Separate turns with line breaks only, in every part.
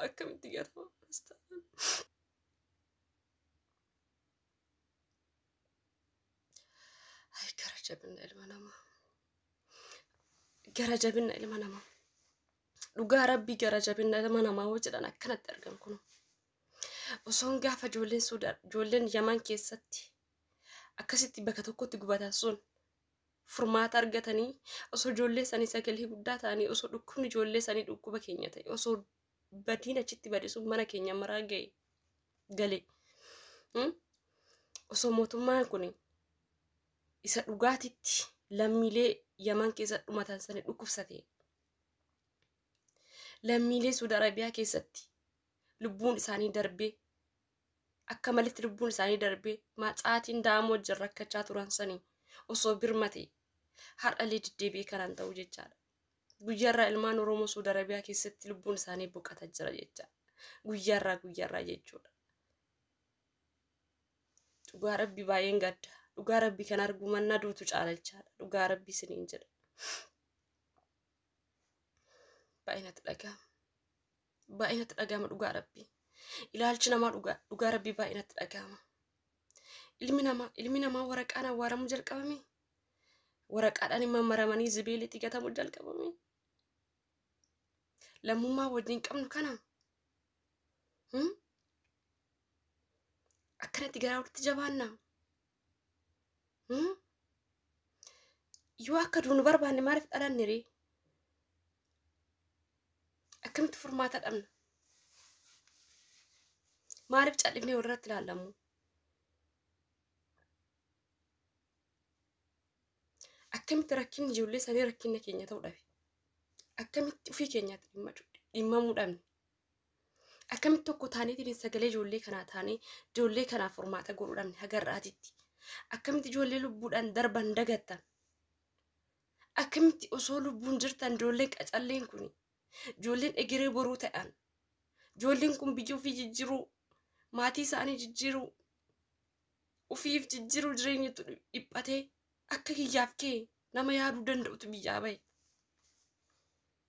akkamitti gatama Kiristaanaan. Ay gara jabinna ilma namaa. Gara jabinna ilma namaa. Dhugaa rabbii gara jabinna ilma namaa hoo jedhan akkanatti argan kun. osoon gaafa ijoolleen suudaan ijoolleen yaman keessatti akkasitti bakka tokkotti gubatan sun furmaata argatanii osoo ijoollee sanii sagalee guddaa ta'anii osoo dhukkubni ijoollee sanii dhukkuba keenya ta'e osoo badiin achitti bade sun mana keenya maraa ga'e gale Hmm? osoo mootummaan kun isa dhugaatitti lammiilee yaman keessa dhumatan sanii dhukkubsate lammiilee suud arabiyaa keessatti lubbuun isaanii darbee akka malitti lubbuun isaanii darbee macaatiin da'amoo wajjin rakkachaa turan sanii osoo birmate har'allee deddeebi'ee kanaan ta'u jechaadha. Guyyaarraa ilmaan Oromoo Suudi Arabiyaa keessatti lubbuun isaanii boqata jira jecha. Guyyaarraa guyyaarraa jechuudha. Dhugaa rabbi baay'een gadda. Dhugaa rabbi kan arguu mannaa duutu caala jechaadha. Dhugaa rabbi isiniin jedha. baay'ee natti dhaga'ama. Baay'ee natti dhaga'ama dhugaa rabbii. Ilaalchi namaa dhugaa dhugaa rabbii baay'ee natti dhaga'ama. Ilmi namaa ilmi namaa waraqaan awwaaramuu jalqabame. Waraqaadhaan immoo maramanii zibeelitti gatamuu jalqabame. Lammummaa wajjin qabnu kana. Hmm? Akkanatti garaa walitti jabaannaa. Hmm? Yoo akka duunu barbaanne maaliif dhalanne ree? Akkamitti furmaata dhabna? Maaliif cal'ifnee walirratti ilaallamu? Akkamitti rakkinni ijoollee sanii rakkinna keenya ta'uu dhabe? Akkamitti ofii keenyaatti dhimma- dhimmamuu dhabne? Akkamitti tokko taaneetiin sagalee ijoollee kanaa taanee ijoollee kanaaf furmaata godhuu dhabne hagarraatitti. Akkamitti ijoollee lubbuudhaan darban dagattan. Akkamitti osoo lubbuun jirtan ijoolleen qacalleen kun ijoolleen egeree boruu ta'an ijoolleen kun biyya ofii jijjiiruu maatii isaanii jijjiiruu ofiif jijjiiruu jireenyatu dhiphatee akka kiyyaaf kee nama yaaduu danda'utu biyyaa bahe.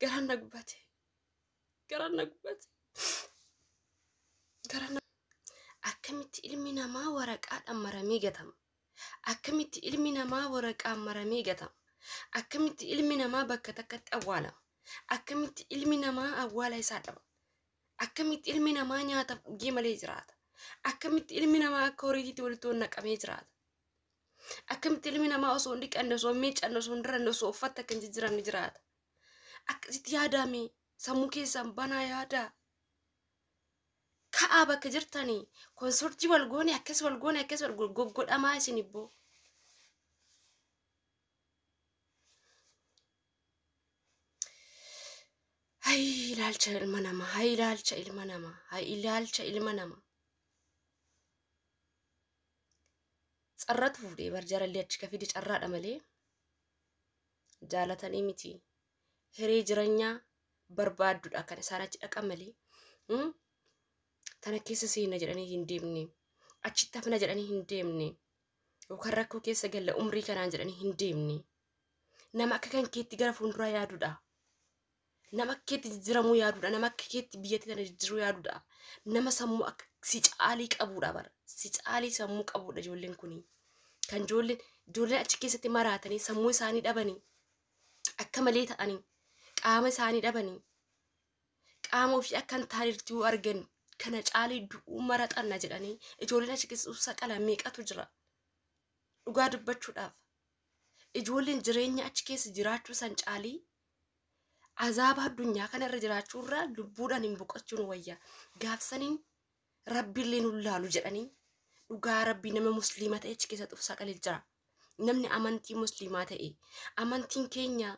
Garaan na gubate. Garaan na gubate. Garaan na Akkamitti ilmi namaa waraqaadhaan maramee gatama? Akkamitti ilmi namaa waraqaan maramee gatama? Akkamitti ilmi namaa bakka takkatti awwaalama? Akkamitti ilmi namaa awwaala isaa dhaba? Akkamitti ilmi namaa nyaataaf dhugee malee jiraata? Akkamitti ilmi namaa akka horiitiitti walitti ol naqamee jiraata? Akkamitti ilmi namaa osoo hin dhiqanne, osoo hin miiccanne, osoo hin diranne, osoo uffatta akka hin jijjiiramne jiraata? Akkasitti yaadaame sammuu keessan banaa yaadaa. Ka'aa bakka jirtanii konsortii wal goone akkas wal goone akkas wal goone goggodhamaa isin ibboo. Hay ilaalcha ilma namaa, hay ilaalcha ilma namaa, hay ilaalcha ilma namaa. Carratu fuudhee bar jarallee achi kafidi carraadha malee jaalatanii miti. Hiree jiranyaa barbaaddudha kan isaan achi dhaqan malee. Hmm? Tana keessa seenna jedhanii hin deemne. Achitti hafna jedhanii hin deemne. Yookaan rakkoo keessa galla umrii kanaan jedhanii hin deemne. Nama akka kan keetti gara fuulduraa yaadudha. Nama akka keetti jijjiiramuu yaadudha. Nama akka keetti biyyatti kana jijjiiruu yaadudha. Nama sammuu akka si caalii qabudha bara. Si caalii sammuu qabudha ijoolleen kuni. Kan ijoolleen ijoolleen achi keessatti maraatanii sammuu isaanii dhabanii akka malee ta'anii qaama isaanii dhabanii qaama ofii akka hin taanetti yoo argan kana caalii du'uu maraxanna jedhanii ijoolleen achi keessa saqala meeqatu jira. Dhugaa dubbachuudhaaf ijoolleen jireenya achi keessa jiraachuu san caalii azaaba addunyaa kana irra jiraachuu irraa lubbuudhaan hin boqochuun wayya gaafsaniin rabbiillee nu laalu jedhanii dhugaa rabbii nama musliima ta'e achi keessa xufsaa qalil jira namni amantii musliimaa ta'e amantiin keenya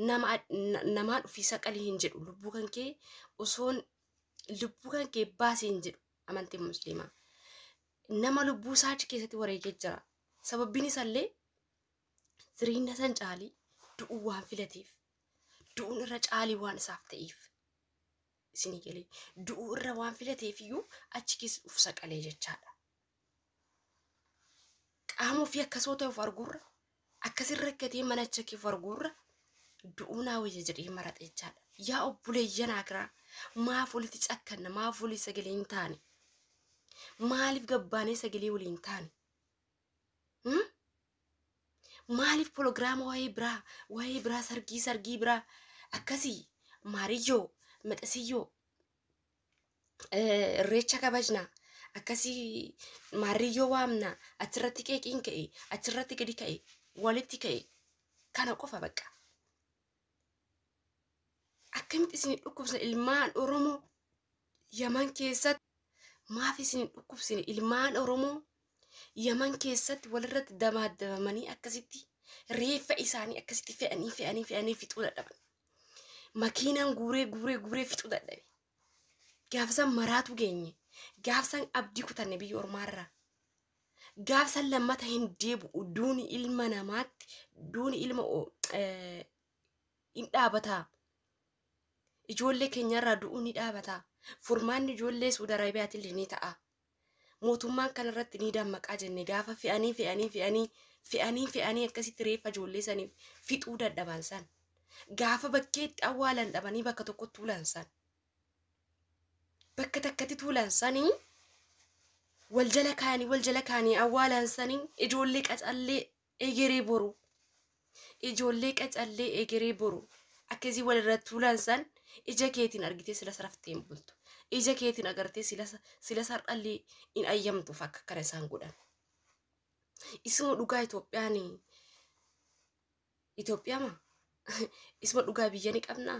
nama na- namaa dhufiisa qalii hin jedhu lubbuu kan kee osoon lubbuu kan kee baasii hin jedhu amantiin musliimaa nama lubbuu isaa achi keessatti wareegee jira. Sababbiin isaallee firiinna san caalii du'uu waan filateef du'uun irra caalii waan isaaf ta'eef isinii galee du'uu irra waan filateef iyyuu achi keessa uf saqalee jechaadha. Qaama ofii akkasoo ta'e of arguurra Akkasin rakkatee mana chakif arguurra du'uu naa wayya jedhee maraxe jechaadha. Yaa obboleeyyan akiraa maaf walitti cakkanna maaf walii sagalee hin taane maaliif gabbaanee sagalee walii hin taane hmm? maaliif pologiraama waa'ee biraa waa'ee biraa sargii sargii biraa akkasii maariyyoo maxasiyyoo eh, irreecha kabajna akkasii maarriyyoo waamna achirratti qeeqiin ka'e achirratti gadi ka'e walitti ka'e kana qofa bakka akkamitti isin dhukkubsina ilmaan oromoo yaman keessatti maaf isin dhukkubsina ilmaan oromoo Yaman keessatti walirratti dabaaddabamanii akkasitti reeffa isaanii akkasitti fe'anii fe'anii fe'anii fixuu dadhaban. Makiinaan guuree guuree guuree fixuu dadhabe. Gaafsan maraatu geenye. Gaafsan abdii kutanne biyya ormaarraa. Gaafsan lammata hin deebi'u duuni ilma namaatti duuni ilma o- eh, hin dhaabataa. Ijoollee keenyarraa du'uu ni dhaabataa. Furmaanni ijoollee Suudi Arabiyaatiillee ni ta'a. Mootummaan kana irratti ni dammaqaa jenne gaafa fe'anii fe'anii fe'anii fe'anii fe'anii akkasitti reeffa ijoollee saniif fixuu dadhaban san. Gaafa bakkeetti awwaalan dhabanii bakka tokkotti tuulan san. Bakka takkatti tuulan sanii wal jala kaanii wal jala kaanii awwaalan sanii ijoollee qacallee egeree boru ijoollee qacallee egeree boru akkasii walirra tuulan san ija keetiin argitee sila saraftee hin bultu ija keetiin agartee sila sila sar'allee hin ayyamtuuf akka kana isaan godhan isuma dhugaa Itoophiyaan Itoophiyaama isuma dhugaa biyya ni qabnaa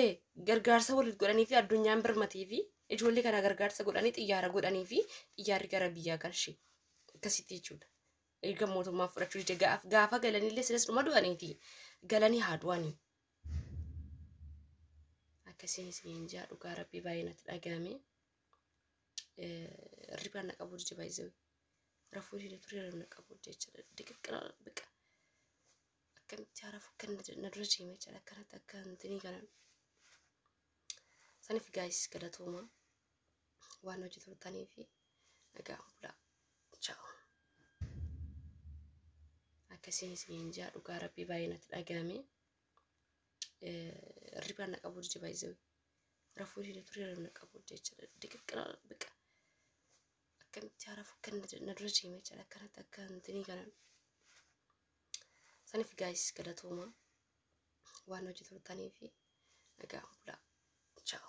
e gargaarsa waliif godhanii fi addunyaan birmatee fi ijoollee kana gargaarsa godhanii xiyyaara godhanii fi xiyyaarri gara biyyaa galche akkasitti jechuudha. Erga mootummaa fudhachuu dide gaaf gaafa galanillee silas dhuma du'aniiti galanii haa du'anii. Akkasiin isiniin jaa dhugaa rabbii baay'ee natti dhaga'ame. Ribaan na qabuu dide baay'ee rafuu dide ture ribaan na qabuu dide jechuudha. Diqaqqa biqa. akkamitti haaraaf akka na dura deeme jedha akkanatti akka hintinii kana saniif gaayis galatooma waan hojii turtanii fi nagaan bulaa chaawu akkasiin isiniin jaa dhugaa rabbii baay'ee natti dhaga'ame hirribaan na qabuu dide baay'isee rafuu dide ture hirribaan na qabuu dide jechuudha diqaqqa biqa akkamitti haaraaf akka na dura deeme jedha akkanatti akka hintinii kana Saniif gaayis galatooma waan hojii turtaniif nagaan bulaa. Ciao.